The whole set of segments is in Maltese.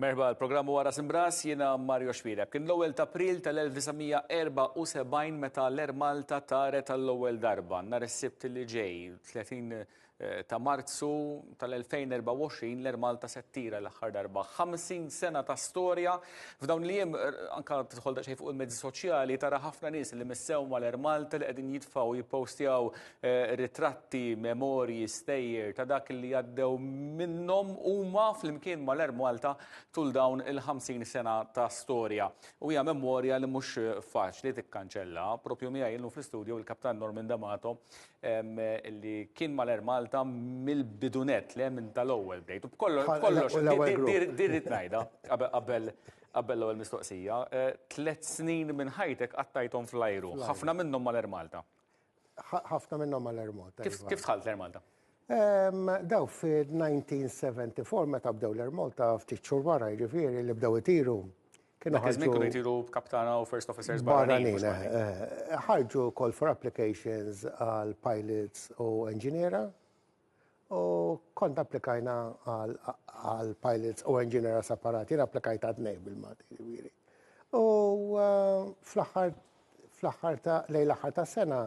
Merħba, l-programm huwa Ras Imbras, jiena Mario Xbireb. Kien l-ewwel ta' April tal-1974 meta l-Air Malta taret għall-ewwel darba. Nhar is-Sibt li ġej, 30 eh, ta' Marzu tal-2024, l-Air Malta se ttira l-aħħar darba. 50 sena ta' storja, f'dawn li jiem eh, anka tidħol daqsxejn fuq il-mezzi soċjali tara ħafna nies li missew mal-Air Malta li qegħdin jitfgħu jippostjaw ritratti, memorji, stejjer ta' dak li għaddew minnhom huma flimkien mal-Air Malta tul dawn il-50 sena ta' storja. U hija memorja li mhux faċli tikkanċella. Propju miegħi illum fl-istudju il-Kaptan Norman D'Amato li kien mal-Air Malta mill-bidu nett, le minn tal-ewwel bdejt. U b'kollox, din rrid ngħidha qabel l-ewwel mistoqsija, tliet snin minn ħajtek qattajthom fl-ajru, ħafna minnhom mal-Air Malta. Ħafna minnhom għal Air Malta. Kif iva. tħalt l-Air Malta? Daw fil-1974 meta bdew l-Air Malta ftit xhur wara jiġifieri li bdew itiru. Kienu ħarġu kienu jtiru kaptana u first officers barranin. Eh, eh, ħarġu call for applications għal pilots u engineera U kont applikajna għal pilots u engineer separati, jien applikajt għad nej bil-Malti ġifieri. U eh, fl-aħħar fl-aħħar ta' lej l-aħħar ta' sena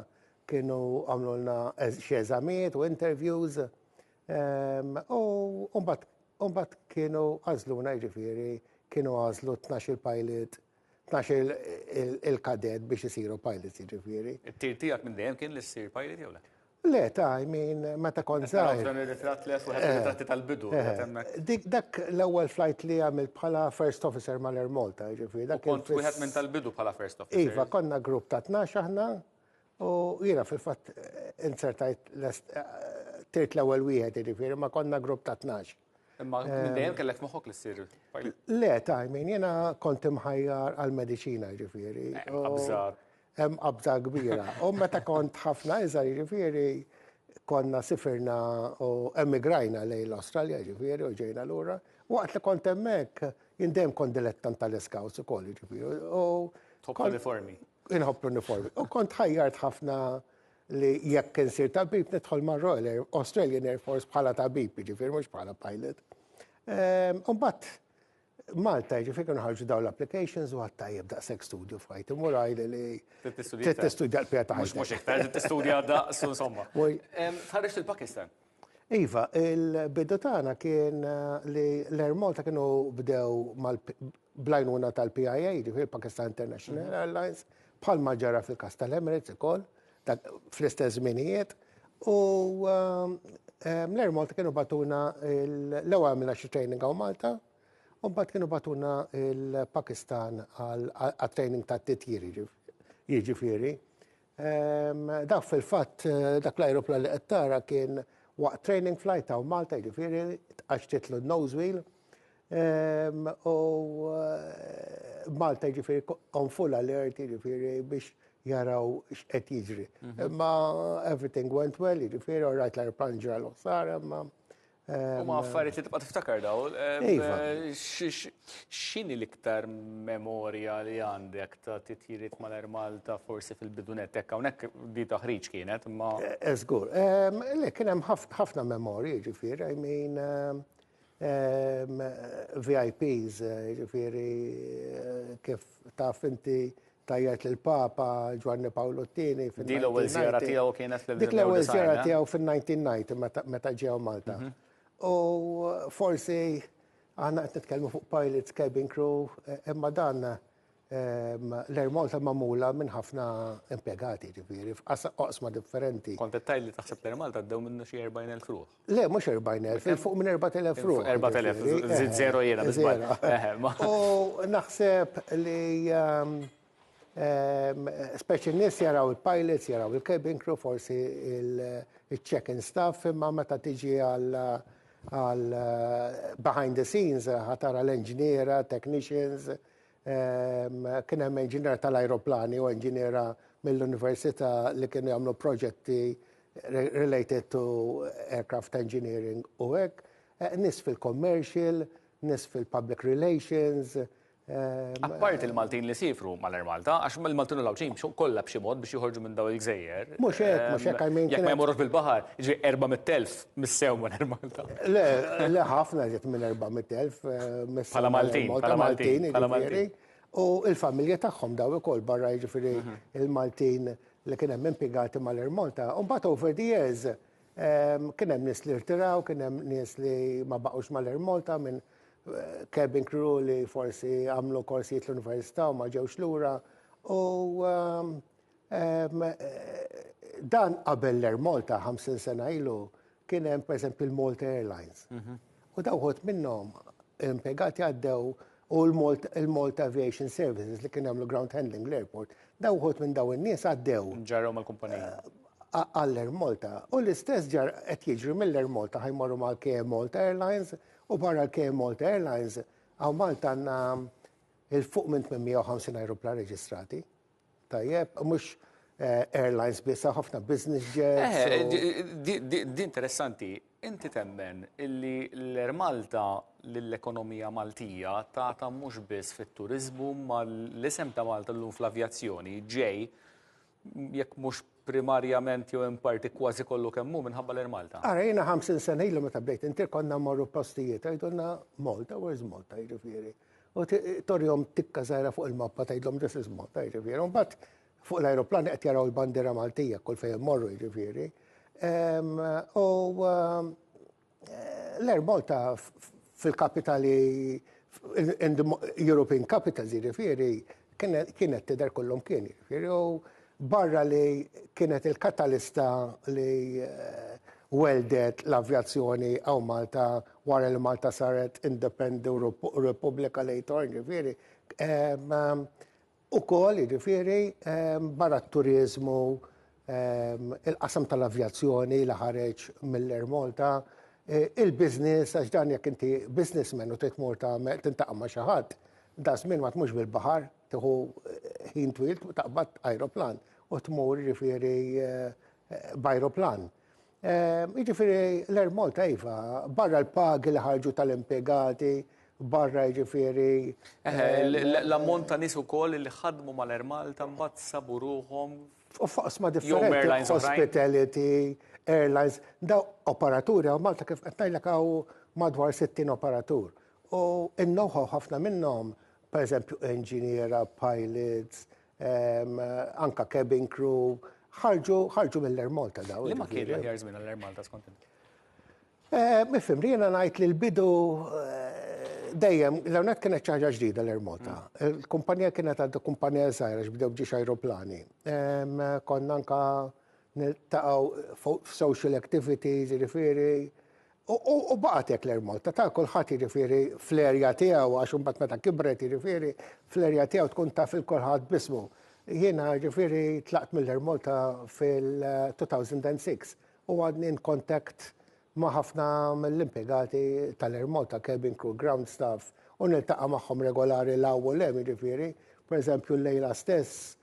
kienu għamlulna xi eżamijiet u interviews ehm, u mbagħad kienu għażluna jiġifieri kienu għażlu 12 il-pilot tnax il-kadet biex isiru pilots jiġifieri. It-tir tiegħek minn dejjem kien li ssir pilot jew le? Le, ta' min meta kont żgħir. Dan ir-ritratt li wieħed ir-ritratti tal-bidu. Dak l-ewwel flight li għamilt bħala first officer mal-Air Malta, jiġifieri. Kont wieħed minn tal-bidu bħala first officer. Iva, konna grupp ta' tnax aħna u jiena fil-fatt inzertajt tirt l-ewwel wieħed jiġifieri, ma konna grupp ta' tnax. Imma eh, dejjem kellek moħok li ssir pilot. Le, ta' min jena kont imħajjar għal-medicina ġifieri. Eh, qabża. Hemm qabża kbira. U meta kont ħafna iżgħar ġifieri konna sifirna u emigrajna lejn l-Awstralja ġifieri u ġejna lura. Waqt li kont hemmhekk jindem kont dilettant tal-iskawts ukoll ġifieri. Top uniformi. Inħobb l-uniformi. U kont ħajjart ħafna li jekk insir tabib nidħol ma' Royal Air, Australian Air Force bħala tabib, ġifir mhux bħala pilot. Ehm, Umbat Malta ġifir kienu ħarġu daw l-applications u għattajjeb daqshekk studju f'ħajti muraj li li trid tistudja l-pjata. Mhux mhux iktar, trid tistudja daqsu insomma. Ehm, Tħarġ il-Pakistan. Iva, il-bidu tagħna kien li l-Air Malta kienu bdew bl-għajnuna tal-PIA, ġifieri Pakistan International Airlines, bħal ma ġara fil-każ tal-Emirates ukoll, fl-istess żminijiet, u l-Air Malta kienu bagħtuna l-ewwel għamilna xi training hawn Malta, u mbagħad kienu bagħtuna l-Pakistan għat-training tat-titjir, jiġifieri. Dak fil-fatt, dak l-ajruplan li qed tara kien waqt training flight hawn Malta, jiġifieri tqaxxtitlu n-nose wheel u Malta jiġifieri on full alert jiġifieri biex jaraw x'qed jiġri. Imma everything went well, jiġifieri all right l-ajruplan ġralu ħsara imma U ma affarijiet li tibqa' tiftakar daw. Iva. X'inhi l-iktar memorja li għandek ta' titjiriet mal-Air Malta forsi fil-bidunet hekk hawnhekk di taħriġ kienet imma. Żgur. Le kien hemm ħafna memorji ġifieri, I mean VIPs ġifieri kif taf inti ta' jgħid li l-Papa Ġwanni Pawlu t-Tieni fin Di l-ewwel żjara tiegħu kienet fl-1990. Dik l-ewwel żjara eh? tiegħu fin-1990 meta ġew Malta. Mhm. U forsi aħna qed nitkellmu fuq pilots, cabin crew, eh, imma dan ehm, l-Air Malta magħmula minn ħafna impjegati ġifieri f'qasma differenti. Kont qed li taħseb l-Air Malta ddew minnu xi 40,000 ruħ. Le, mhux 40,000, il fuq minn 4,000 ruħ. 4,000, żid zero jiena biżbal. U naħseb li speċi n-nies jaraw il-pilots, jaraw il-cabin crew, forsi il-check-in staff, imma meta tiġi għal behind the scenes, ħa tara l-enġniera, technicians, Kien hemm inġiniera tal-ajruplani u inġiniera mill-università li kienu jagħmlu proġetti related to aircraft engineering u hekk, nies fil-commercial, nies fil-public relations. Apparti l-Maltin li siefru mal-Air Malta, għax il-Maltin u l-Għawdxin jimxu kollha b'xi mod biex joħorġu minn dawn il-gżejjer. Mhux hekk, mhux hekk, I mean. Jekk ma jmorrux bil-baħar, jiġifieri 400,000 Missew ma Malta. Le, le ħafna ġiet minn 400.000 Pala Maltin, pala Maltin, pala Maltin. U il-familja tagħhom daw ukoll barra jiġifieri mhm. il-Maltin li kien hemm impjegati mal-Air Malta. U mbagħad over the years ehm, kien hemm nies li rtiraw, kien hemm nies li ma baqgħux mal-Air Malta minn eh, cabin crew li forsi għamlu korsijiet l-università u ma ġewx lura. U ehm, Dan qabel l-Air Malta 50 sena ilu kien hemm pereżempju l-Malta Airlines. Mhm. U daw ħodt minnhom impjegati għaddew u l-Malta Aviation Services li kien jagħmlu ground handling l-airport, daw ħodt minn daw in-nies għaddew. Ġarrew mal-kumpanija. Eh, Għall-Air Malta. U l-istess ġar qed jiġri mill-Air Malta ħajmorru mal KM Malta Airlines u barra l-KM Malta Airlines għaw Malta għandna il-fuq minn 850 aeroplan reġistrati. Tajjeb, mhux airlines biss, hawn ħafna business jets. Di interessanti, inti temmen illi l-Air Malta lill-ekonomija Maltija tagħtha mhux biss fit-turiżmu imma l-isem ta' Malta llum fl-avjazzjoni ġej jekk mhux primarjament jew in parti kważi kollu kemm hu minħabba l-Air Malta? Ara jiena 50 sena ilu meta bdejt intir konna mmorru postijiet u jgħidulna Malta, where's Malta jiġifieri. U torjom tikka żgħira fuq il-mappa tgħidlhom this is Malta, jiġifieri. U mbagħad fuq l-ajruplani qed jaraw il-bandiera Maltija kull fejn immorru jiġifieri. U l-Air Malta fil-kapitali European capitals jiġifieri kienet tidher kullum kien jiġifieri. Barra li kienet il-katalista li welldet l-avjazzjoni hawn Malta wara li Malta saret independenti u repubblika later, jiġifieri, ukoll, jiġifieri, barra t-turiżmu, il-qasam tal-avjazzjoni li ħareġ mill-Air Malta, il-business, għax dan jekk inti businessman u trid tmur tagħmel, tintaqa' ma' xi ħadd, daż-żmien ma tmurx bil-baħar, Tieħu ħin twil taqbad ajruplan u tmur jiġifieri b'ajruplan. Jiġifieri l-Air Malta iva, barra l-pagi li ħarġu tal-impjegati, barra jiġifieri. L-ammont ta' nies ukoll li ħadmu mal-Air Malta mbagħad sabu ruħhom. F'oqsma differenti, hospitality, airlines, dawn operaturi hawn Malta kif qed ngħidlek hawn madwar 60 operatur. U n-know-how ħafna minnhom pereżempju inġiniera, pilots, anke cabin crew, ħarġu mill-Air Malta dawn. Liema kien l-aħjar żmien għall-Air Malta skont int? Mifhum, jiena ngħid li l-bidu dejjem, l-ewwel nett kienet xi ħaġa ġdida l-Air Malta. Il-kumpanija kienet għadha kumpanija żgħira għax bdew b'ġiex ajruplani. Konna anke niltaqgħu f'social activities, jiġifieri U baqgħet hekk l-Air Malta ta' kulħadd jiġifieri fl-erja tiegħu għax imbagħad meta kibret jiġifieri fl-erja tiegħu tkun taf il kulħadd b'ismu. Jiena jiġifieri tlaqt mill-Air Malta fil-2006 u għadni in contact ma' ħafna mill-impjegati tal-Air Malta, cabin crew, ground staff, u niltaqa' magħhom regolari 'l hawn u 'l hemm jiġifieri. Pereżempju llejla stess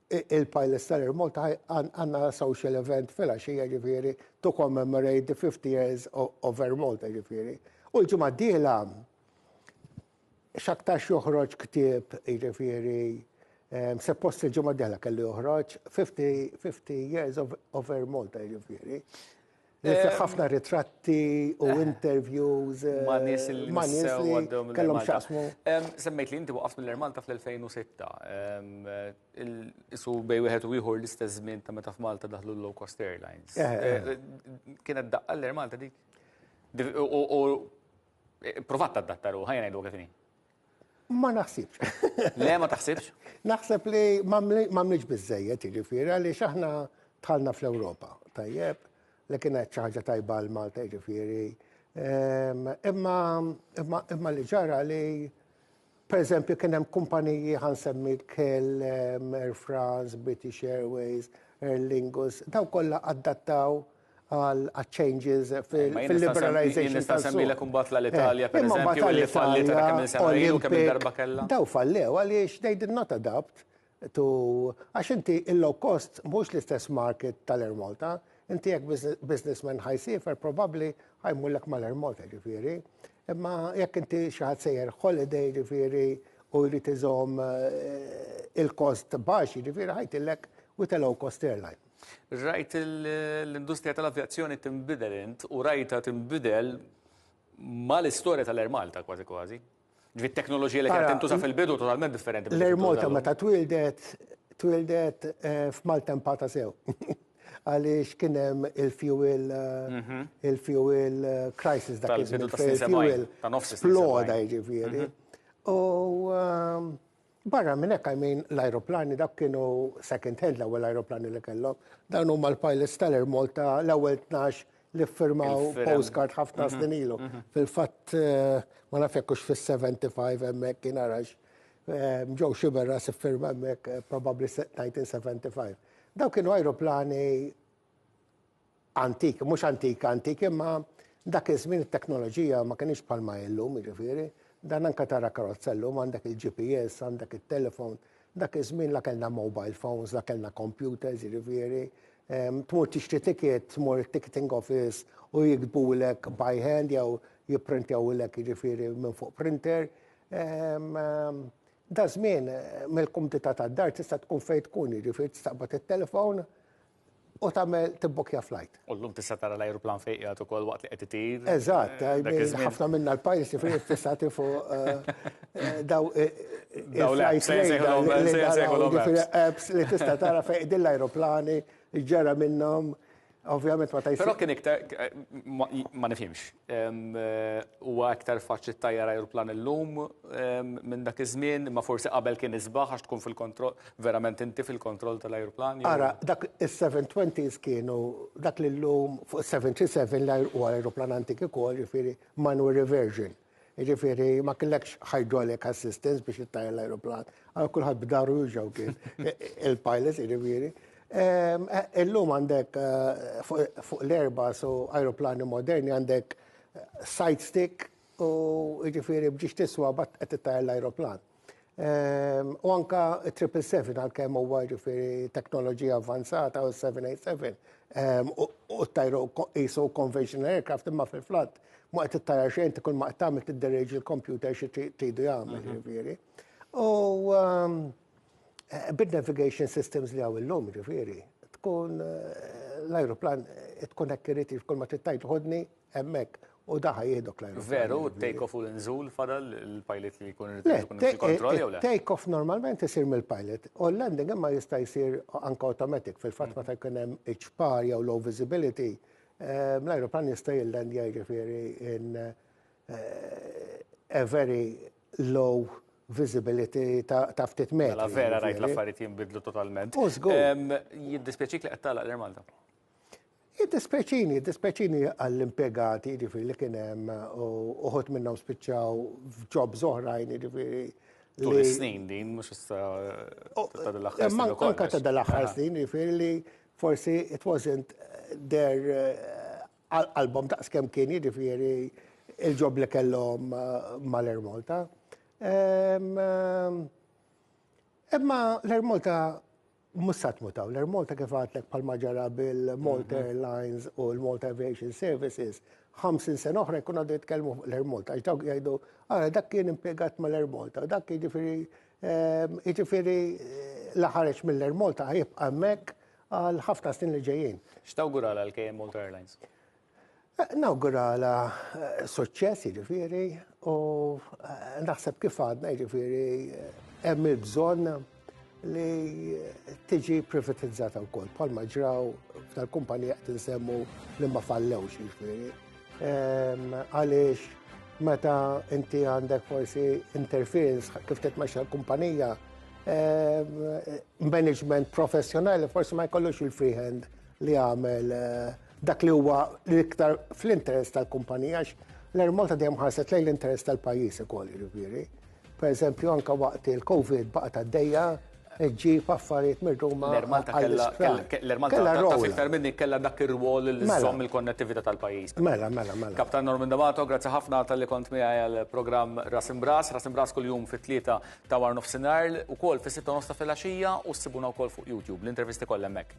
Il-Pilots tal-Air Malta għandna social event filgħaxija jiġifieri to commemorate the 50 years of Air Malta jiġifieri. U l-ġimgħa d-dieħla x'aktarx joħroġ ktieb jiġifieri suppost il-ġimgħa d-dieħla kellu joħroġ 50 years of Air Malta jiġifieri. Li fih ħafna ritratti u eh. interviews. Eh, ma' nies li ma' nies li għaddew minn kellhom xaqsmu. Semmejt li inti waqaft mill Malta fl-2006. Eh, isu bej wieħed u ieħor l-istess żmien ta' meta f'Malta daħlu l-low cost airlines. Kienet daqqa l-Air Malta dik. U provat ta' dattaru, ħajna jdu kif Ma naħsibx. Le, ma taħsibx? Naħseb li m'għamlitx biżżejjed, jiġifieri għaliex aħna tħallna fl-Ewropa, tajjeb, li kienet xi ħaġa tajba għal Malta, jiġifieri. Ehm, imma li ġara li Per eżempju, kien hemm kumpaniji ħan semmi kell ehm, Air France, British Airways, Aer Lingus, daw kollha adattaw għaċ-changes fil-liberalization tal-suq. Nista' nsemmilek imbagħad l-Alitalia, pereżempju, li falliet għadha kemm-il sena ilu, kemm-il darba kellha. Dawn fallew għaliex they did not adapt to għax inti il-low cost mhux l-istess market tal-Air Malta. Inti jekk businessman ħa jsiefer probabbli ħa jmurlek mal-Air Malta, ġifieri. Imma jekk inti xi ħadd sejjer holiday, ġifieri, u jrid iżomm il-kost baxx, ġifieri ħa jgħidilek with a low cost airline. Rajt l-industrija tal-avjazzjoni tinbidel int u rajtha tinbidel mal-istorja tal-Air Malta kważi kważi. Ġifieri t-teknoloġija li kienet tintuża fil-bidu totalment differenti. L-Air Malta meta twieldet, twieldet f'maltempata sew. Għaliex kien hemm il-fuel, il-fuel crisis dak iż-żmien. Tal-bidu tas-snin sebgħin. Sploda jiġifieri. U Barra minn hekk, I mean, l-ajruplani dawk kienu second hand l-ewwel ajruplani li kellhom. Dawn huma l-pilots tal-Air Malta l-ewwel tnax li ffirmaw postcard ħafna mhm. snin ilu. Mhm. Fil-fatt eh, ma naf jekk hux fis-75 hemmhekk kien arax. Eh, ġew xi berra siffirma hemmhekk eh, probabbli 1975. Daw kienu ajruplani antik, mhux antik antik imma dak iż-żmien it-teknoloġija ma kinitx bħalma hi llum, jiġifieri, dan anke tara karozza llum għandek il-GPS, għandek it-telefon, dak iż-żmien la kellna mobile phones, la kellna computers, jiġifieri, tmur tixtri ticket, tmur it-ticketing office u jiktbulek by hand jew jipprintjawlek jiġifieri minn fuq printer. Daż-żmien mill-kumdità tad-dar tista' tkun fejn tkun, jiġifieri tistaqbad it-telefon, u tagħmel tibbukkja flight. U llum tista' tara l-ajruplan fejn qiegħed ukoll waqt li qed itir. Eżatt, ħafna minna l-pajjiż li fejn tista' tifu daw il-flights apps li tista' tara fejn qegħdin l-ajruplani, x'ġara minnhom. Ovvjament ma tgħidx. Però kien iktar ma nifhimx. Huwa iktar faċli ttajjar ajruplan illum minn dak iż-żmien, imma forsi qabel kien isbaħ għax tkun fil-kontroll, verament inti fil-kontroll tal-ajruplan. Ara, dak is-seven-twenties kienu dak li llum fuq is-seven three seven li huwa ajruplan antik ukoll, jiġifieri manual reversion. Jiġifieri ma kellekx hydraulic assistance biex ittajjar l-ajruplan. Kulħadd b'daru juża kien il-pilot jiġifieri. Illum għandek fuq l-Airbus u ajruplani moderni għandek side stick u jiġifieri biex tiswa mbagħad qed ittajjar l-ajruplan. U anke triple seven għalkemm huwa jiġifieri teknoloġija avvanzata u seven eight seven u ttajru qisu conventional aircraft imma fil-flat ma qed ittajjar xejn inti kull ma qed tagħmel tidderieġi l-computer xi tridu jagħmel jiġifieri. U Bid-navigation systems li hawn illum, jiġifieri, tkun l-ajruplan tkun hekk irid jif kull ma trid tgħid ħodni hemmhekk u daħa jihdok l-ajruplan. Veru, take off u l-inżul fadal il-pilot li jkun irid ikun fi kontroll jew le? Take off normalment isir mill-pilot u l-landing imma jista' jsir anke automatic fil-fatt meta jkun hemm iċ-ċpar jew low visibility l-ajruplan jista' jillandja jiġifieri in a very low visibility ta' ftit metri. Mela vera rajt l-affarijiet jinbidlu totalment. U żgur. Jiddispjaċik li qed tagħlaq l-Air Malta? Jiddispjaċini, jiddispjaċini għall-impjegati jiġifieri li kien hemm uħud minnhom spiċċaw f'jobs oħrajn jiġifieri. Tul is-snin din mhux issa ta' dal-aħħar snin ukoll. Anke ta' dal-aħħar snin jiġifieri li forsi it wasn't their Għal qalbhom daqskemm kien jiġifieri l-ġob li kellhom mal-Air Malta. Imma l-Air Malta mhux sa tmut hawn. L-Air Malta kif għadtlek bħalma ġara bil-Malta Airlines u l-Malta Aviation Services, 50 sena oħra jkunu għadhom jitkellmu fuq l-Air Malta għax dawk jgħidu, ara dak kien impjegat mal-Air Malta, dak jiġifieri jiġifieri la ħareġ mill-Air Malta ħa jibqa' hemmhekk għal ħafna snin li ġejjin. X'tawguralha l-KM Malta Airlines? Nawguralha suċċess jiġifieri u naħseb kif għadna jiġifieri hemm il-bżonn li tiġi privatizzata wkoll bħalma ġraw tal-kumpanija qed insemmu li ma fallewx jiġifieri. Għaliex meta inti għandek forsi interference kif titmexxa l-kumpanija, management professjonali forsi ma jkollux il-freehand li għamel eh, dak li huwa l-iktar fl-interess tal-kumpanija l-Air Malta dejjem ħarset lejn l-interess tal-pajjiż ukoll jiġifieri. Pereżempju, anke waqt il-Covid baqgħet għaddejja ġġib affarijiet mir-Ruma. L-Ermal ta' kellha l-Ermal ta' iktar minni kellha dak ir-rwol li mela. żomm il-konnettività tal-pajjiż. Mela, mela, mela. Kaptan Norman D'Amato, grazzi ħafna tal-li kont miegħi għall-programm Ras Imbras. Ras Imbras kuljum fit-tlieta ta' war nofsinhar, ukoll fis-sitta nofs ta' filgħaxija u ssibuna wkoll fuq YouTube. L-intervisti kollha hemmhekk.